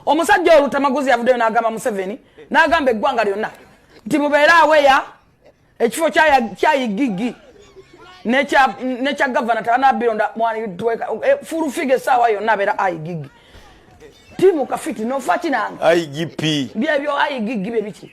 omusajja oyo lutamaguzi yavuddeyo n'agamba museveni n'agamba eggwanga lyonna nti mubeere aweya ekifo kyayigigi nekya gavana tebanabironda eh, fulufiga esaawa yonna abeera ayigigi timu kafiti nofa kinange igp byebyo ayigigi bye biki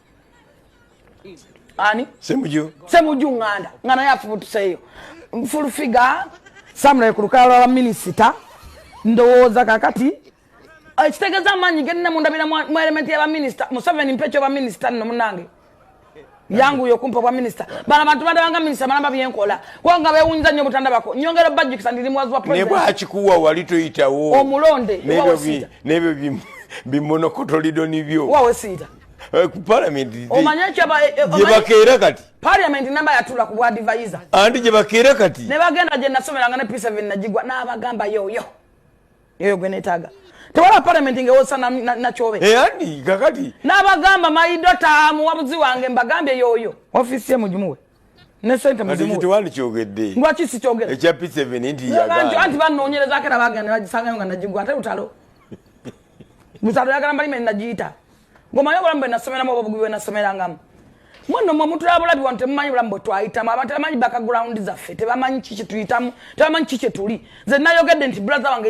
ani semuju semuju nganda nga naye afubutuseeyo nfulufiga samulaye ku lukala lwa minisita ndowooza kakati eh, ekitegeeza amaanyi genina mundabira mu elementi yabaminisita museveni mpa ekyo baminisita nno munange yanguyo kumpa obwa minisita bana bantu bandabanga minisita balamba byenkola kubanga bewunyiza nnyo obutandabako nyongera obajjukisa ndiri muwazi wa president nebwakikuwa wali toyitawo omulonde nebyo bimonokoto lido nibyo wawesiita Eh, ku parliament omanya kyaba eh, eh, gye bakeera kati parliament namba yatula ku bwadivayiza anti gye bakeera kati ne bagenda gye nasomeranga ne p7 nagigwa n'abagamba yoyo yoyo gwe netaaga tewala parliament ngewosa nakyobe ani kakati n'abagamba maidota muwabuzi wange mbagambye yoyo ofisi ye mugimuwe ne sente muzimuwelwaki sikyogeranti banoonyerezako era bagenda bagisangayo nga nagigwa ate lutalo lutalo yagala mbalime nagiyita ngomanyi obulamu bwe nasomeramu oba obugubi bwe nasomerangamu mwana mwe mutulaba bulabi wano temumanyi bulamu bwe twayitamu abantu tebamanyi background zaffe tebamanyi kiki tuyitamu tebamanyi kiki kyetuli nze nayogedde nti brother wange